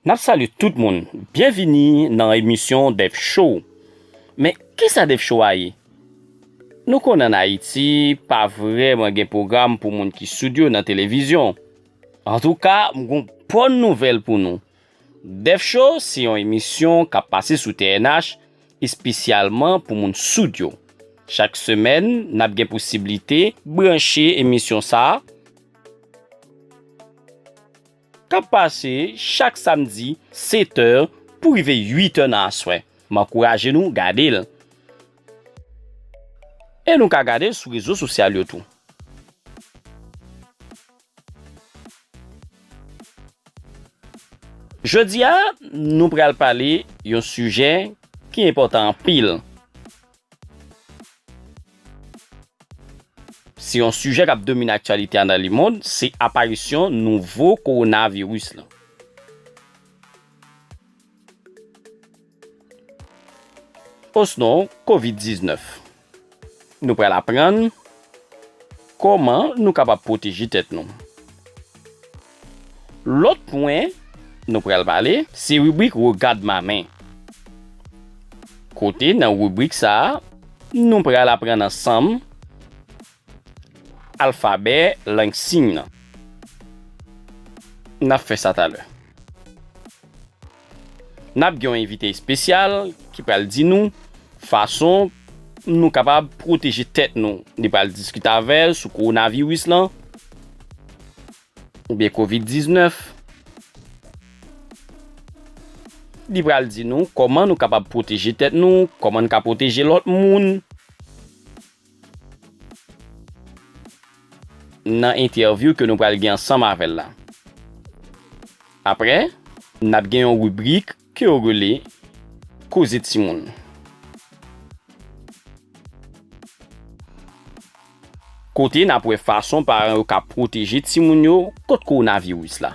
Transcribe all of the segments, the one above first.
Nap salye tout moun, byenvini nan emisyon Dèf Show. Men, kisa Dèf Show a ye? Nou konnen an Ayiti, pa vrèman gen pwogram pou moun ki soud yo nan televizyon. Antouka, m gen yon bòn nouvèl pou nou. Dèf Show se yon emisyon k ap pase sou TNH espesyalman pou moun soud yo. Chak semèn, n ap gen posiblite. Branche emisyon sa a, k ap pase chak samdi setè pou rive uitè nan aswè. M ankouraje nou gade l. E nou ka gade l sou rezo sosyal yo tou. Jodi a, nou pral pale yon sijè ki enpòtan anpil. Se yon sijè k ap domine aktyalite a nan lemond, se aparisyon nouvo kowonaviris lan. osnon Kovid 19. Nou pral aprann kòman nou kapab pwoteje tèt nou. Lòt pwen nou pral pale se ribrik Regad ma men kote nan ribrik sa nou pral aprann ansanm. Alfabè lang siy nan. N ap fè sa talè. N ap gen yon envite espesyal ki pral di nou fason nou kapab pwoteje tèt nou. Li pral diskite avè l sou kowonaviris lan oubyen kovid 19. Li pral di nou kòman nou kapab pwoteje tèt nou, kòman n ka pwoteje lòt moun. nan entèvyou ke nou pral gen ansanm avèl la. Aprè, nap gen yon ribrik ke yo rele Koze Timoun. Kote nap wè fason paran yo ka pwoteje timoun yo kont kowonaviris la.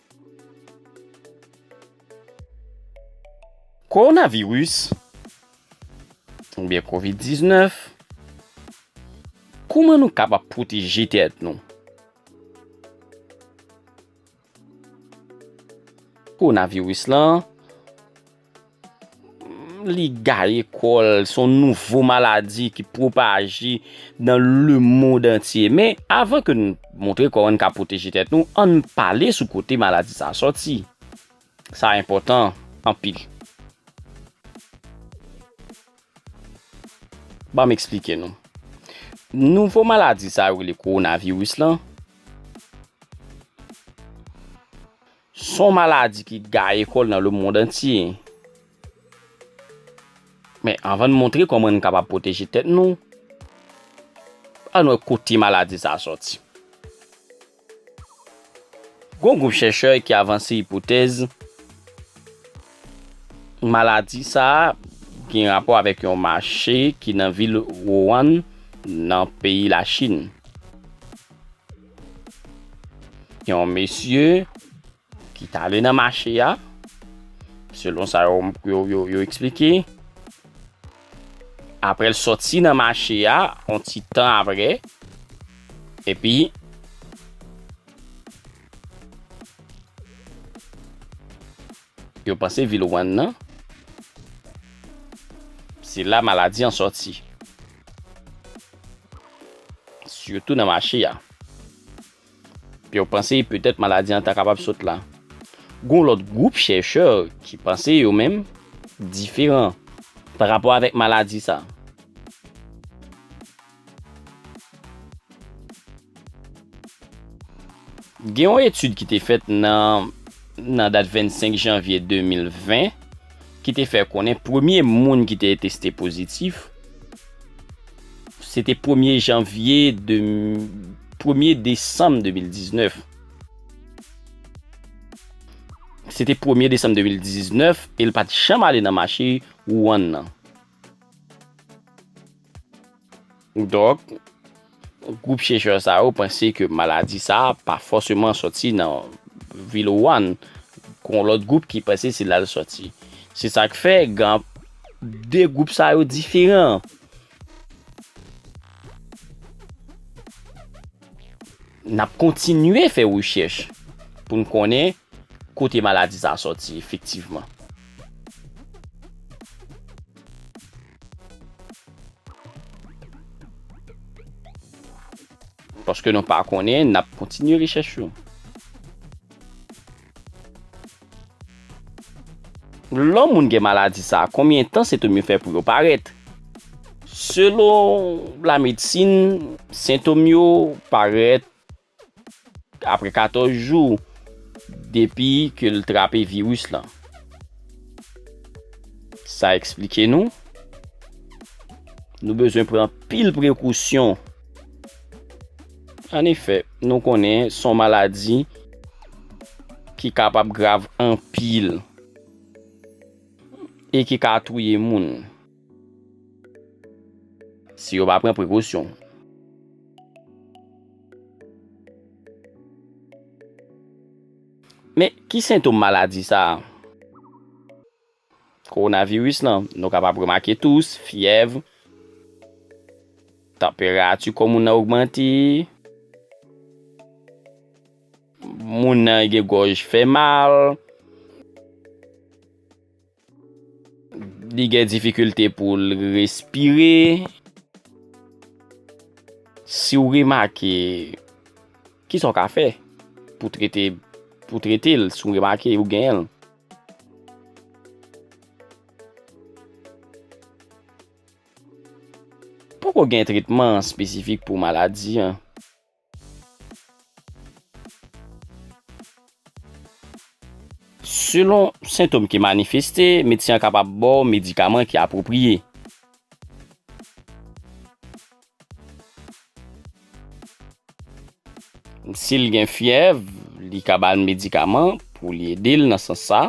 Kowonaviris oubyen covid 19 kouman nou kapab pwoteje tèt nou? Kowonaviris lan. Li gaye kò l, son nouvo maladi ki pwopaje nan le mond antye. Men, avan ke nou montre kò an ka pwoteje tèt nou, an n pale sou kote maladi sa soti. Sa enpòtan anpil. Ban m eksplike nou. Nouvo maladi sa yo rele kowonaviris lan. Son maladi ki gaye kòl nan le mond antye. Men anvan n montre kòman n kapab pwoteje tèt nou, ann wè kote maladi sa a sòti. Gon gwoup chèchè ki avanse ipotèz maladi sa a gen rapò avèk yon mache ki nan vil Wouwann nan peyi Lachin. Yon mesye ki ta ale nan mache a, selon sa yo eksplike, apre l soti nan mache a, yon ti tan apre, epi, Yo panse vil Wann nan se la maladi an sòti. Sitou nan mache a. Yo panse petèt maladi an ta kapab sot la. Gon lòt gwoup chèchè ki panse yo menm diferan pa rapò avèk maladi sa. Gen yon etid ki te fèt nan nan dat 25 janvye 2020 ki te fè konnen premye moun ki te teste pozitif se te premye janvye de premye desanm 2019. Se te premye desanm 2019 e l pa t janm ale nan mache Wuhan nan. Donk, gwoup chèchè sa yo panse ke maladi sa a pa fòseman sòti nan vil Wuhan, gen yon lòt gwoup ki panse se la l sòti. Se sa k fè gen 2 gwoup sa yo diferan. N ap kontinye fè rechèch pou n konnen kote maladi sa a sòti efektivman. Paske nou pa konnen, n ap kontinye rechèch yo. Lò moun gen maladi sa, konbyen tan sentom yo fè pou yo parèt? Selon lamedsin, sentom yo parèt Apre 14 jou depi ke l trape viris lan, sa eksplike nou, nou bezwen pran anpil prekousyon. An efè, nou konnen s on maladi ki kapab grav anpil e ki ka touye moun. Si yo pa pran prekosyon. Men, ki sentom maladi sa a? Kowonaviris lan, nou kapab remake tous, fyèv, tanperati kò moun nan ogmante, moun nan gen gòj fè mal. Li gen difikilte pou l respire. Si w remake, ki sa w ka fè pou trete pou trete l si w remake ou gen l? Poko gen tretman espesifik pou maladi an. Selon sentom ki manifeste, medsen an kapab ba w medikaman ki apwopriye. Si l gen fyèv, li ka ba l medikaman pou li ede l nan sans sa.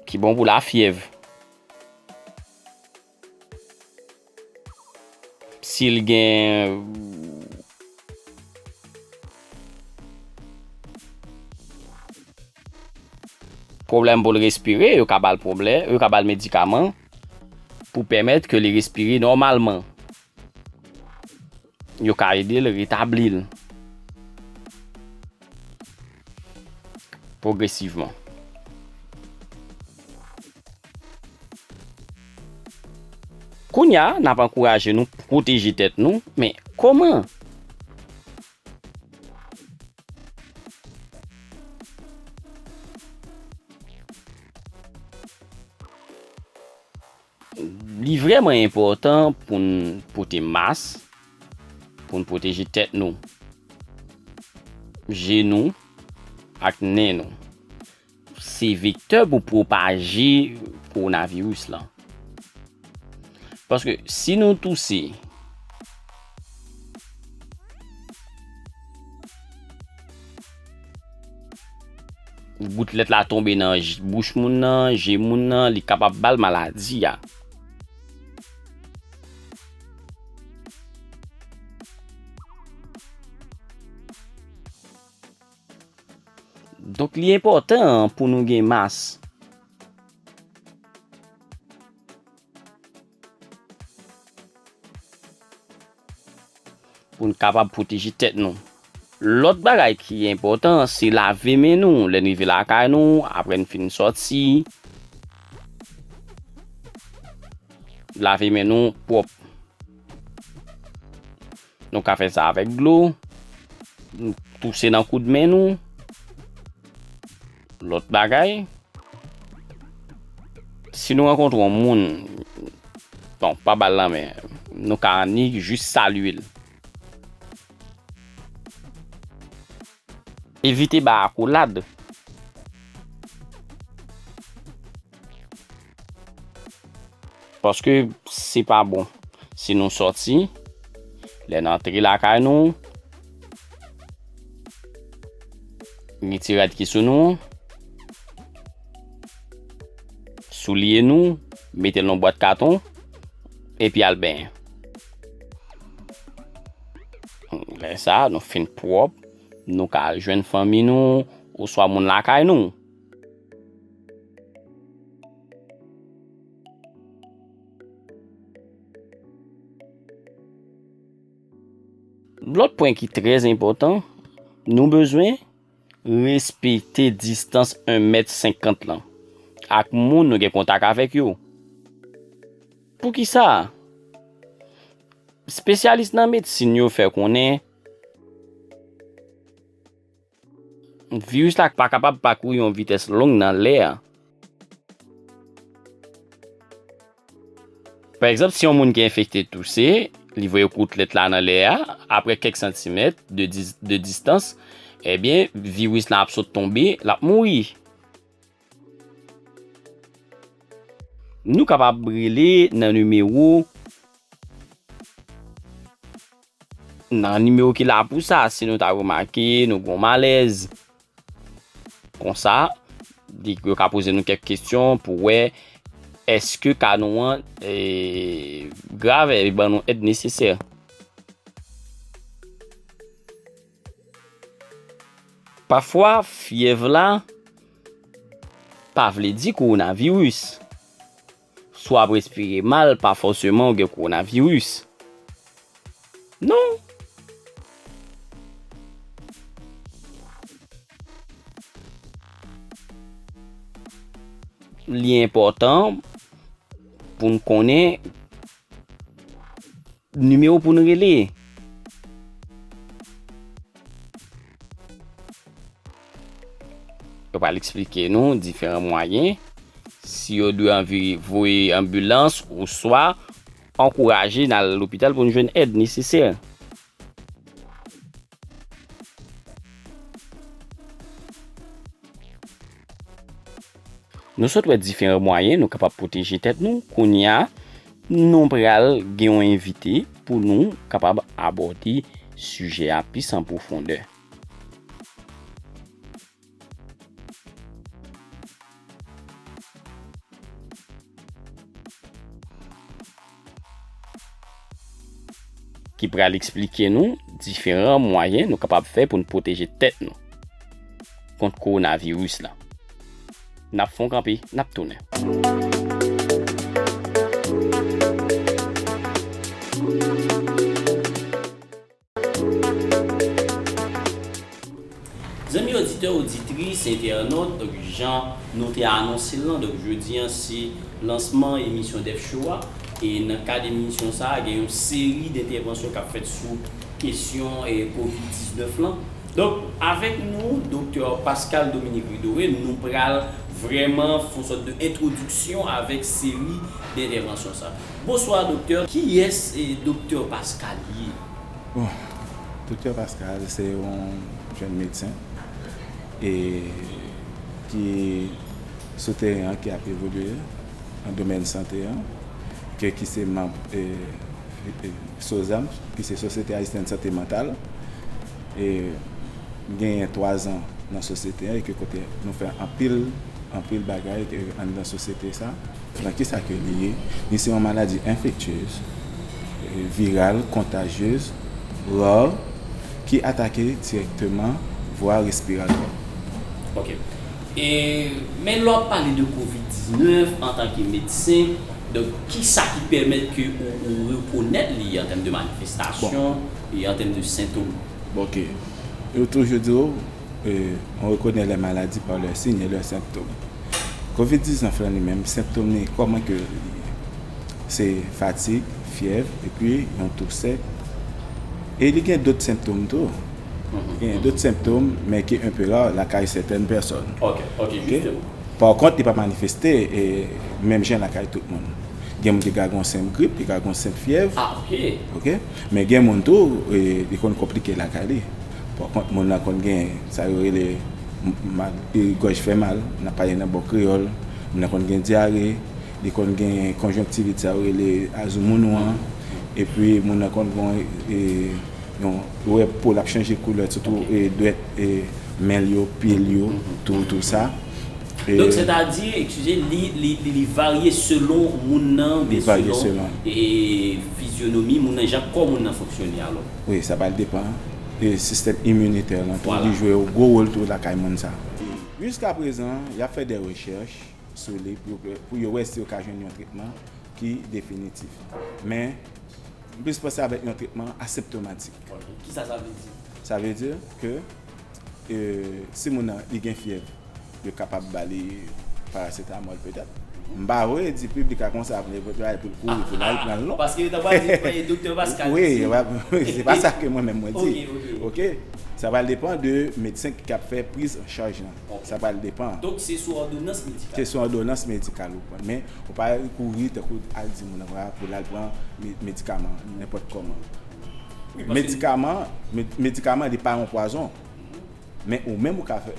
Ki bon pou lafyèv. Sil gen. Pwoblèm poul respire yo ka bal pwoblè yo ka bal medikaman pou pèmèt ke li respire nòmalman. Yo ka ede l retabli l pwogresivman. Kounye a, n ap ankouraje nou pwoteje tèt nou, men kòman? Li vrèman enpòtan pou n pote mas pou n pwoteje tèt nou, je nou ak nen nou. Se vektè pou pwopaje kowonaviris lan. Paske si nou touse. Goutlet la tonbe nan bouch moun nan, je moun nan, li kapab bal maladi a. Donk li enpòtan pou nou gen mas. Pou n kapab pwoteje tèt nou. Lòt bagay ki enpòtan, se lave men nou lè n rive lakay nou, apre n fin sòti. Lave men nou pwòp. Nou ka fè sa avèk dlo. Nou touse nan koud men nou. Lòt bagay. Si nou rankontre yon moun. Bon, pa bal la men. Nou ka ni jis salye l. Evite bay akolad. Paske se pa bon. Si nou sòti, lè n antre lakay nou, mete rad ki sou nou, soulye nou, mete l nan bwat katon, epi al benyen. Lè sa a, nou fin pwòp, nou ka al jwenn fanmi nou, ou swa moun lakay nou. Lòt pwen ki trèz enpòtan, nou bezwen respekte distans 1 mèt 50 lan ak moun nou gen kontak avèk yo. Poukisa? Spesyalis nan medsin yo fè konnen viris la pa kapab pakouri yon vitès long nan lè a. Pa egzanp, si yon moun ki enfekte touse, li voye koutlet la nan lè a, apre kèk santimèt de distans, ebyen viris la ap sot tonbe, l ap mouri. Nou kapab rele nan nimewo. Nan nimewo ki la pou sa, si nou ta remake nou gon malèz. Konsa, di yo ka poze nou kèk kestyon pou wè eske ka nou an e grave e ban nou èd nesesè. Pafwa fyèv la pa vle di kowonaviris. Si w ap respire mal pa fòseman ou gen kowonaviris non. Li enpòtan pou n konnen. Nimewo pou n rele. Yo pral eksplike nou diferan mwayen si yo dwe anvi voye anbilans ou swa ankouraje nan lopital pou n jwenn èd nesesè. Nou sot wè diferan mwayen nou kapab pwoteje tèt nou, kounye a nou pral gen yon envite pou nou kapab abòde sijè a plis an pwofondè. ki pral eksplike nou diferan mwayen nou kapab fè pou nou pwoteje tèt nou kont koronavirus la. Nap fon kanpe, nap tounen. Zanmi oditè oditris, entènot, donk jan nou te anonse l lan, donk jodi an se lansman emisyon Dèf Show a, e nan kad emisyon sa a gen yon seri dentèvansyon k ap fèt sou kesyon kovid 19 lan. Donk avèk nou doktè Pascale Dominique Ridore nou pral vrèman fon sòt de entwodiksyon avèk seri dentèvansyon sa. Bonsoir Docteur kiyès Docteur Pascal ye? Bon Docteur Pascal se yon jèn medsen e ki sou teren an ki ap evolye nan domèn sante an ke ki se manb SOSAMH ki se Sosyete Ayisyen de Sante Mantal e m genyen 3 zan nan sosyete an e ke kote nou fè anpil anpil bagay anndan sosyete sa. Lan kisa ke li ye? Li se yon maladi enfektyez, viral, kontajyez, rare, ki atake direkteman vwa respiratwa. Ok. E men lè wap pale de covid 19 antanke medsen, donk kisa ki pèmèt ke ou rekonèt li an tèm de manifestasyon e an tèm de sentom? Bon ok. Yo toujou di w. On rekonè lè maladi pa lè siy e lè senptom. Kovid 19 lan li menm, senptom li kòman ke li ye? Se fatig, fyèv, epi yon tou sèk. E li gen dòt senptom tou. Gen dòt senptom, men ki enpe ra, lakay sètèn pèsòn. Ok, ok, jisteman. Par kont, li pa manifeste e menm jan lakay tout moun. Gen moun ki ka gon senp grip, ki ka gon senp fyèv. Ah, ok. Ok? Men gen moun tou, li konn konplike lakay li. Pò kont moun lan konn gen sa yo rele mal gòj fè mal, n ap pale nan bon kreyòl, moun lan konn gen dyare, li konn gen konjonktivit sa yo rele azoumounou an, epi moun lan konn gen yon ou wè po l ap chanje koulè sitou dwèt men l yo, pye l yo tou tou sa. Donk sètadi, ekskize, li varye selon moun nan oubyen selon fizyonomi moun nan, jan kò moun nan fonksyone alò? Wi sa pral depan de sistèm iminitè lan tou li jwe yon gwo wol tou lakay moun sa. Jiska prezan y ap fè dè rechèch sou li pou yo wè si yo ka jwenn yon tretman ki definitif. Men m plis panse avèk yon tretman aseptomatik. Kisa sa vle di? Sa vle di ke si moun nan li gen fyèv. Yo kapab ba li paracetamol petèt. M pa vle di piblik la konsa vle pou l kouri pou l al pran l non. Paske yo ta pral di doktè Pascal ki di. Wi, se pa sa ke mwen menm mwen di. Ok. Sa pral depan de medsen ki ap fè priz an chaj lan. Sa pral depan. Donk se sou òdonans medikal. Se sou òdonans medikal ou pran. Men ou pa kouri tankou al di moun nan pou l al pran medikaman nenpòt kòman. Medikaman li pa yon pwazon. Men ou menm ou ka fè,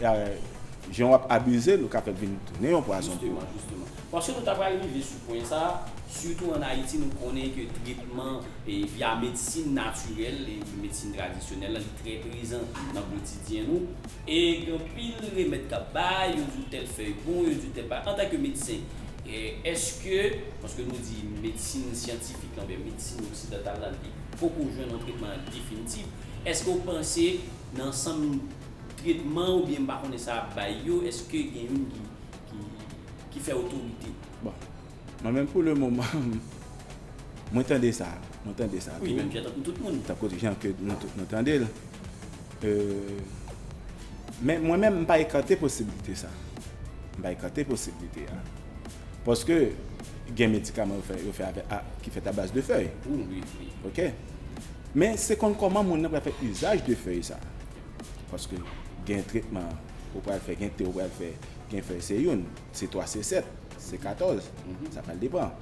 jan wap abize l ou ka fè l vin tounen yon pwazon pou ou. Jisteman, jisteman. Paske nou ta pral rive sou pwen sa, sitou an Ayiti nou konnen ke tretman via medsin natirèl, medsin tradisyonèl la li trè prezan nan kotidyen nou. E gen anpil remèd kap bay, yo di w tèl fèy bon, yo di w tèl bagay. Antanke medsen, eske, paske nou di medsin syantifik la oubyen medsin oksidantal la li poko jwenn yon tretman definitif, eske ou panse Nan ansanm tretman oubyen m pa konnen sa ap bay yo eske gen youn ki ki fè otorite? Bon mwen menm pou le moman mwen tande sa mwen tande sa tou. Wi menm jan tankou tout moun. Tankou jan ke nou tout nou tande l. Men mwen menm m pa ekate posibilite sa. M pa ekate posibilite a. Paske gen medikaman yo fè avèk a ki fèt abaz de fèy. Ou wi wi. Ok. Men se konn kòman moun nan pral fè izaj de fèy sa. Paske gen tretman ou pral fè, gen te ou pral fè, gen fèy se youn, se 3, se 7, se 14. Sa pral depan.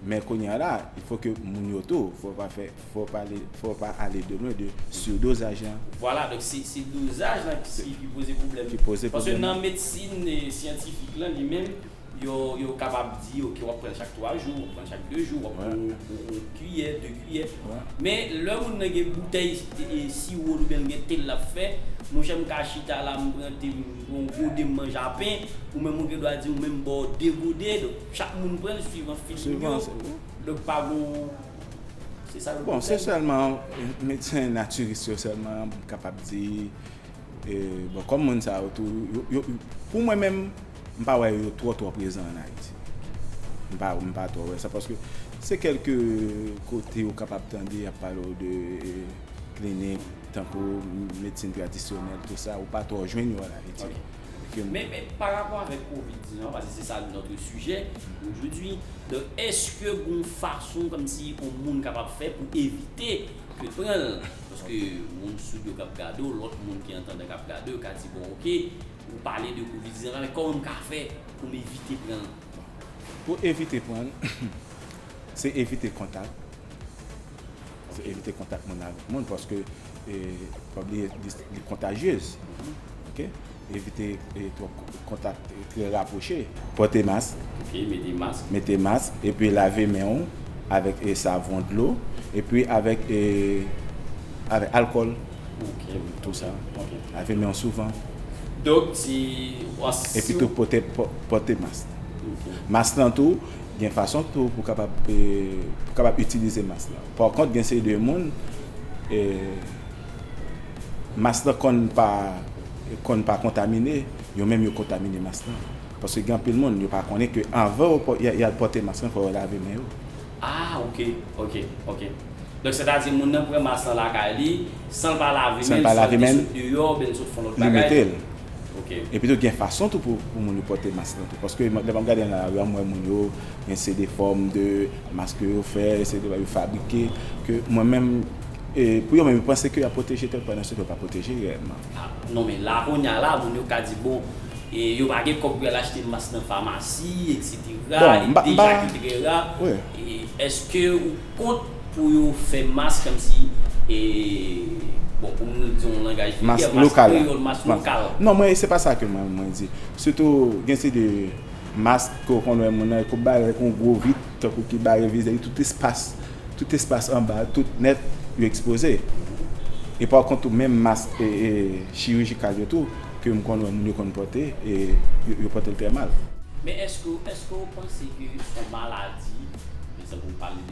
Men kounya la, il faut que moun yo tou, fò pa fè, fò pa ale, fò pa ale de lwen de surdosaj lan. Vwala, donk se, se dozaj lan ki, ki poze pwoblèm. Ki poze pwoblèm lan. Paske nan medsin syantifik lan li menm, yo, yo kapab di ok w'ap pran l' chak 3 jou, w'ap pran l' chak 2 jou, w'ap pran l' yon kiyè, 2 kiyè. Men lè moun nan gen boutèy siwo l' oubyen l' gen te l' l'ap fè, monchè m' ka chita la m' pran te m', m' pran yon gode m' manje a pen, ou menm ou gen dwa di ou menm bò 2 gode, donk. Chak moun pranl suivan feeling yo donk pa gon se sa yo di. Bon se sèlman medsen natirist yo sèlman m kapab di bon kòm moun sa yo tou pou mwen menm m pa wè yo twò twò prezan an Ayiti m pa m pa twò wè sa paske se kèlke kote ou kapab tande y ap pale w de klinik tankou medsin tradisyonèl tou sa ou pa twò jwenn yo an Ayiti. Ok men men pa rapò avèk covid 19 an paske se sa notre sujet d'aujourd'hui donk eske gon fason kòmsi on moun kapab fè pou evite ke pranl paske moun soud yo kap gade w lòt moun ki antandan kap gade w ka di bon ok ou pale de covid 19 la men kòman m ka fè pou m evite pranl. Pou evite pranl se evite kontak. Evite kontak moun avèk moun paske pa bliye li kontajyez ok evite twòp kontak trè rapwoche. Pòte mask ok mete mask mete mask epi lave men ou avèk savon dlo epi avèk avèk alkòl ok tou sa ok lave men ou souvan dòk di epitou pòte pòte mask mask lan tou. Gen fason tou pou kapab pou kapab itilize mas la. Par kont gen seri de moun e mas la konn pa konn pa kontamine, yo menm yo kontamine mas la. Paske gen anpil moun yo pa konnen ke anvan yo yal pote mas lan fò yo lave men yo. Ah ok ok ok donk sètadi moun nan pran mas lan lakay li. San l pa lave men l, swa li te sot deyò oubyen li sot fon lòt bagay. Li mete l. Ok. Epi tou gen fason tou pou moun yo pote mask lan tou. Paske lè map gade nan lari a m wè moun yo gen se de fòm de mask ke yo fè, se de bagay yo fabrike ke mwen menm e pou yo menm yo panse ke yap pwoteje tèt pandan se ke yo pa pwoteje reyèlman. A non men la kounya la moun yo ka di bon e yo pa gen kòb pou yal achte mask nan famasi eksetera e deja ki trè ra e eske ou kont Pou yo fè mas kòmsi e bon pou nou di yon langaj vilgè, mas kreyòl, mas lokal. Non mwen se pa sa ke mwen di. Sitou gen ti de mas ke ou konn wè moun nan epou bare ak yon gwo vit tankou ki bare vize li tout espas, tout espas anba a tout nèt yo ekspoze. E pa kont tou menm mas e chirijikal yo tou ke m konn wè moun yo konn pòte e yo pòte l trè mal. Men èske ou panse ke son maladi, ekzanp ou pale.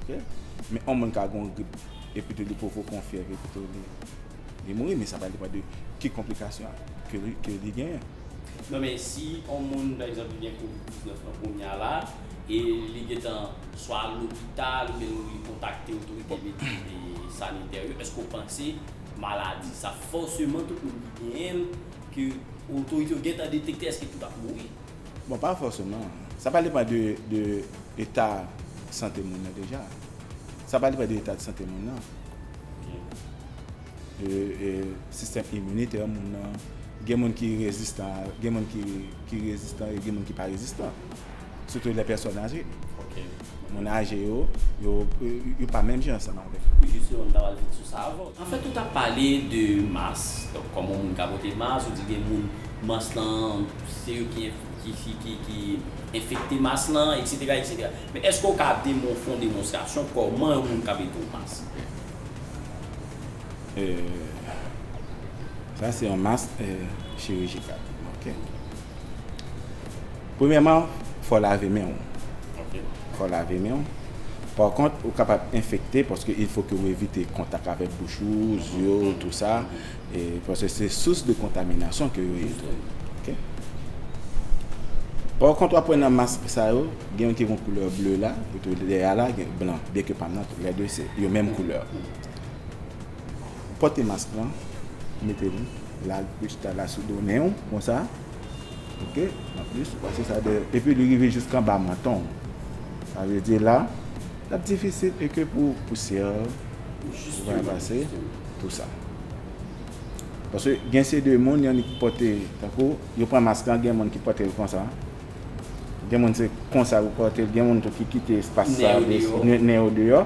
Ok men yon moun ka gen yon grip epitou li poko pran yon fyèv epitou li mouri men sa pa depan de ki konplikasyon ke li genyen. Non men si yon moun pa egzanp li gen covid 19 lan kounya la e li gentan swa al lopital oubyen li kontakte otorite sanitè yo eske w panse maladi sa fòseman tout moun ki genyen l ke otorite yo gentan detekte eske tout ap mouri? Bon pa fòseman, sa pral depan de eta sante moun nan deja, sa pral depan de eta de sante moun nan, de sistèm iminitè moun nan, gen moun ki rezistan, gen moun ki rezistan e gen moun ki pa rezistan, sitou lè pèsòn aje. Moun aje yo, yo pa menm jan ansanm avèk nou. Ou jis yon moun ta pral vin sou sa avè w. Anfèt ou ta pale de mas, donk kòman yon moun ka pote mas, ou di gen moun mas lan se yo ki enfekte mas lan eksetera eksetera. Men èske w ka fè yon demonstrasyon kòman yon moun ka mete w mas? Sa se yon mas chirijikal. Premyèman, fò w lave men w. Fò w lave men w. Pa kont, ou kapab enfekte paske il fo ke ou evite kontak avèk bouch ou, zye w, tou sa. Paske se sous de kontaminasyon ke yo ye tou. Ok. Pa kont, wap wè nan mask sa yo, gen yon ki gen yon koulè ble la, epi dèyè a la gen blan. Byen ke pa m nan, lè de se yo menm koulè. Pote mask lan, mete l, lage chita la sou do nen w, konsa. Ok an plis ou pase sa deyò epi li rive jiska anba manton w sa vle di la l ap difisil e ke pou pousyè pou va pase pou sa paske gen se de moun yon ki pote tankou yo pran mask lan gen moun ki pote l konsa gen moun se konsa yo pote l gen moun tou ki kite espas sa nen yo deyò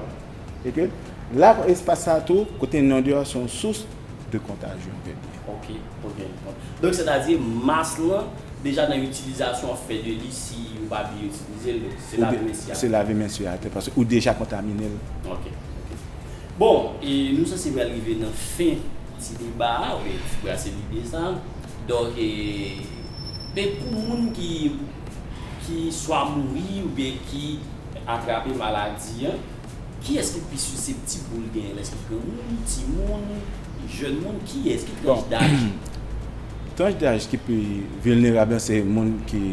e ke la espas sa tou kote nen yo deyò se yon sous de kontajyon. Ok ok ok donk sè ta di mas lan deja nan itilizasyon ap fè de li si ou pa byen itilizel donk se lave men si atè. Se lave men si atè paske ou deja kontaminel. Ok ok bon e nou sanse pral rive nan fen ti deba a ou byen ti brase lide sa donk e men pou moun ki ki swa mouri ou byen ki atrape maladi an. Kiyès ki pi siseptib pou l genyen l? Èske granmoun, timoun, jèn moun? Kiyès? Ki tranch daj? Tranch daj ki pi vilnerab la se moun ki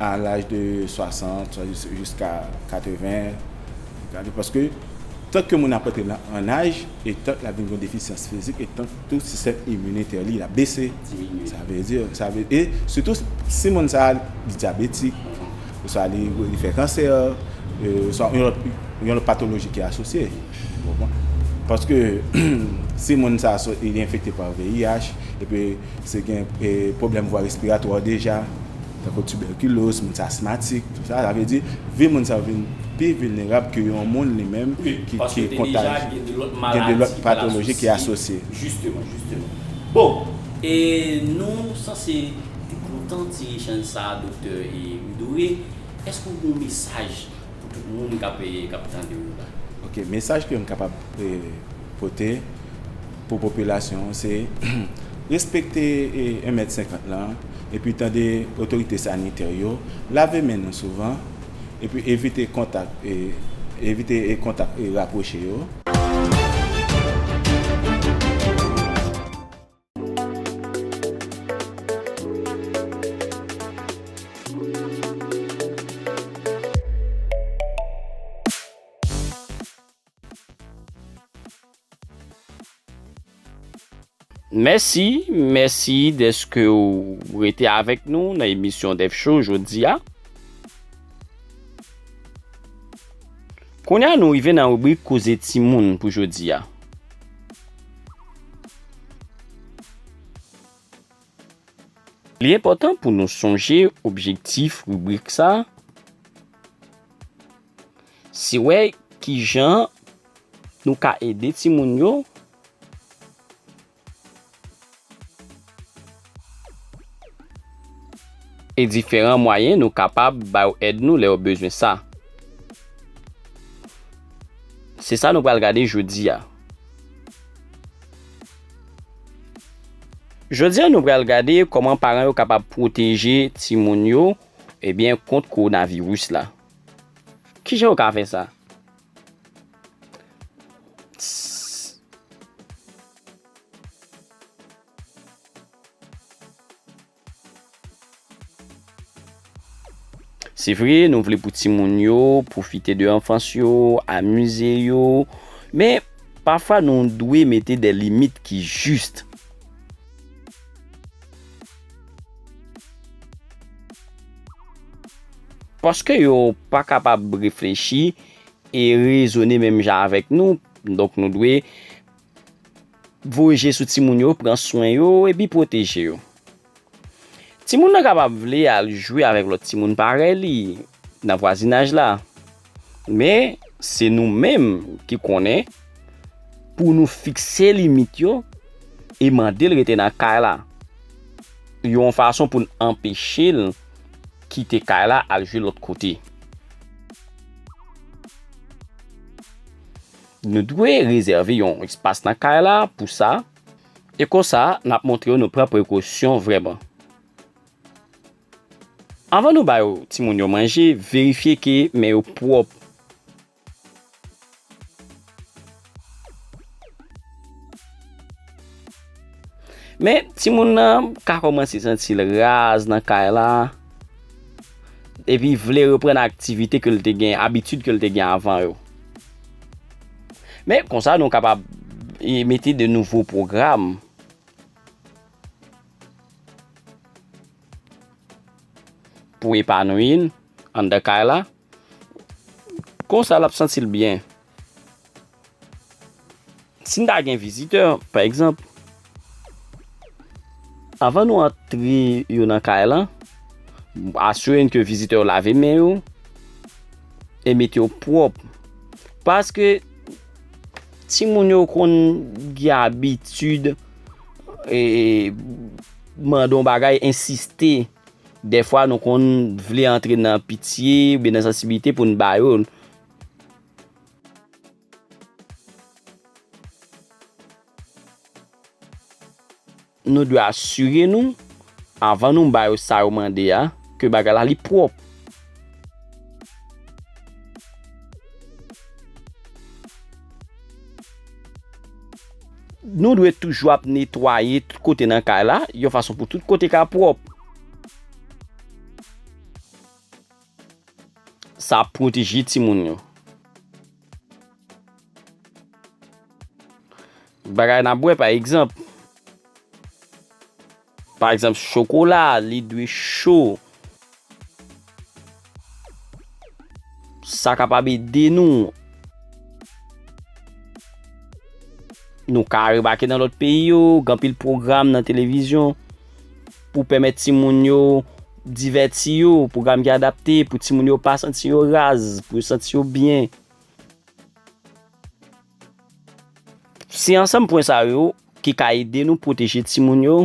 a laj de 60 jiska 80 gade paske tank ke moun ap antre an aj e tank l ap vin gen defisyans fizik e tank Tout sistèm iminitè li ap bese, sa vle di, sa vle, e sitou si moun sa li dyabetik, oswa li fè kansè, oswa yon lòt, yon lòt patoloji ki asosye, ou konpran? Paske si moun sa li enfekte pa VIH, epi se gen pwoblèm vwa respiratwa deja. tankou tibèkiloz, moun asmatik, tout sa, sa vle di vi moun sa yo vin pi vilnerab ke yon moun li menm ki kontajye, gen de lòt patoloji ki asosye. Jisteman, jisteman. Bon, e nou sanse te kontan ti echanj sa a Doktè Widore, èske ou gen yon mesaj pou tout moun k ap tande ou la? Ok, mesaj ke m kapab pote. Pou popilasyon an se respekte 1 mèt 50 lan epi tande otorite sanitè yo, lave men nou souvan epi evite kontak evite kontak rapwoche yo. Mèsi, mèsi deske ou rete avèk nou nan emisyon Dèf Cho jodi a. Kounye a nou rive nan rubrik Koze Timoun pou jodi a. Li enpòtan pou nou sonje objektif rubrik sa a. Si wè ki jan nou ka ede timoun yo. E diferan mwayen nou kapab ba yo èd nou lè yo bezwen sa. Se sa nou pral gade jodi a. Jodi a nou pral gade kòman paran yo kapab pwoteje timoun yo ebyen kont kowonaviris la. Ki jan ou ka fè sa? Se vre, nou vle pou ti moun yo, pwofite de anfans yo, amize yo, men, pafwa nou dwe mete de limit ki jist. Paske yo pa kapab reflechi e rezone menm jan avèk nou, donk nou dwe voye je sou ti moun yo, pran swen yo, epi pwoteje yo. Ti moun nan kapab vle al jwe avèk lòt ti moun parèy li nan vwazinaj la. Men, se nou menm ki konnen pou nou fikse limit yo e mande l rete nan kay la. Yon fason pou n anpeche l kite kay la al jwe lòt kote. Nou dwe rezève yon espas nan kay la pou sa, e konsa n ap montre yo nou pran prekosyon vrèman. Anvan nou bay timoun yo manje, verifye ke men yo pwòp. Men timoun nan ka kòmanse santi l raz nan kay la, epi vle reprann aktivite ke l te gen, abitid ke l te gen avan yo. Men konsa nou kapab mete de nouvo pwogram. Pou epanwi l anndan kay la. Konsa l ap santi l byen. Si n ta gen vizitè, pa egzanp. Anvan nou antre yo nan kay la, asire n ke vizitè yo lave men yo e mete yo pwòp. Paske, timoun yo konn gen abitid. mande yon bagay, ensiste. Dèfwa nou konn vle antre nan pitye, oubyen nan sansibilite pou nou ba yo. Nou dwe asire nou, avan nou ba yo sa yo mande a, ke bagay la li pwòp. Nou dwe toujou ap netwaye tout kote nan kay la, yon fason pou tout kote ka pwòp. Sa ap pwoteje timoun yo. Bagay n ap bwè pa egzanp. Pa egzanp, chokola a li dwe cho. Sa kapab ede nou. Nou ka remake nan lòt peyi yo, gen anpil pwogram nan televizyon pou pèmèt timoun yo divèti yo, pwogram ki adapte pou timoun yo pa santi yo raz, pou yo santi yo byen. Se ansanm pwen sa yo ki ka ede nou pwoteje timoun yo.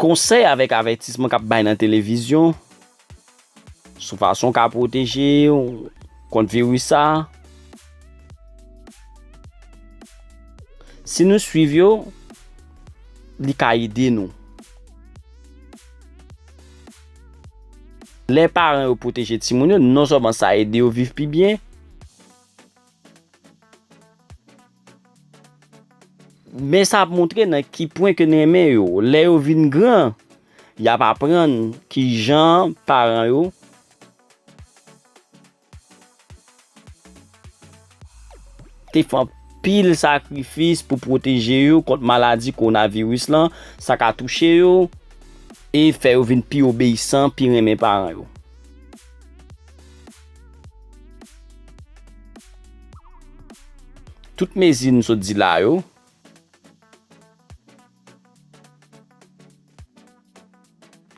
Konsèy avèk avètisman k ap bay nan televizyon sou fason w ka pwoteje w kont viris sa a. Si nou suiv yo, li ka ede nou. Lè paran yo pwoteje timoun yo, non sèlman sa ede yo viv pi byen, men sa ap montre nan ki pwen ke n renmen yo. Lè yo vin gran, y ap aprann ki jan paran yo. te fè anpil sakrifis pou pwoteje yo kont maladi kowonaviris lan, sa ka touche yo, e fè yo vin pi obeyisan, pi renmen paran yo. Tout mezi nou sot di la yo.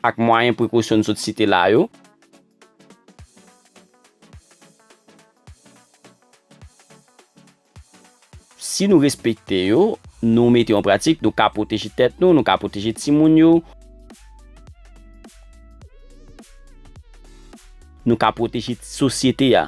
ak mwayen prekosyon n sot site la yo. Si nou respekte yo, nou mete yo an pratik, nou ka pwoteje tèt nou, nou ka pwoteje timoun yo, nou ka pwoteje sosyete a.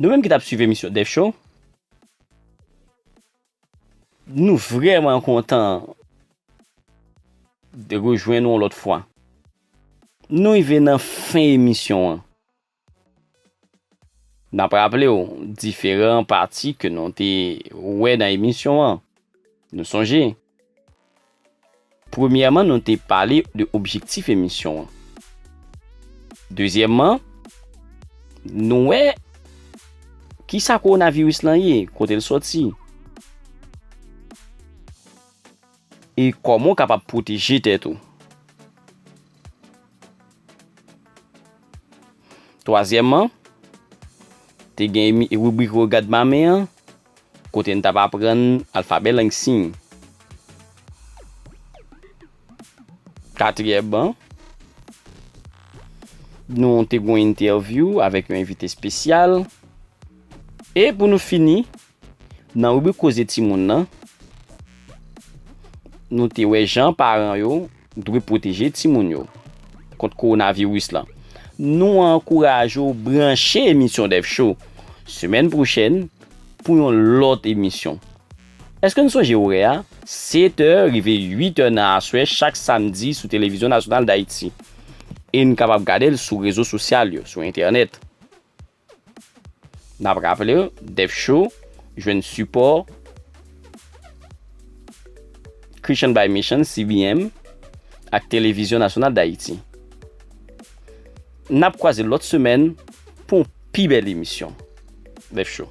Nou menm ki tap swiv emisyon Def Show nou vrèman kontan de rejwenn nou yon lòt fwa. Nou rive nan fen emisyon an. Nap raple w diferan pati ke nou te wè nan emisyon an. Nou sonje. Premyèman nou te pale de objektif emisyon an. Dezyèmman, nou wè kisa kowonaviris lan ye, kote l sòti. E kòman w kapab pwoteje tèt ou. Twazyèmman, te gen ribrik Regad Mame an. Kote n t ap aprann alfabè lang siy. Katriyè ban, nou te gwen entèvyou avèk yon envite espesyal. E pou nou fini, nan ribrik koze timoun nan, nou te wè jan paran yo. Dwe pwoteje timoun yo kont kowonaviris lan. Nou ankouraje w branche emisyon Dev Show semèn pwochèn pou yon lòt emisyon. Èske n sonje orè a? 7 è rive 8 è nan aswè chak samdi sou Televizyon Nasyonal Dayiti. E n kapab gade l sou rezo sosyal yo, sou entènèt. N ap raple w, Def Cho jwenn sipò Christian by Mission, CBM, ak Televizyon Nasyonal Dayiti. N ap kwaze lòt semèn pou yon pi bèl emisyon Def Cho.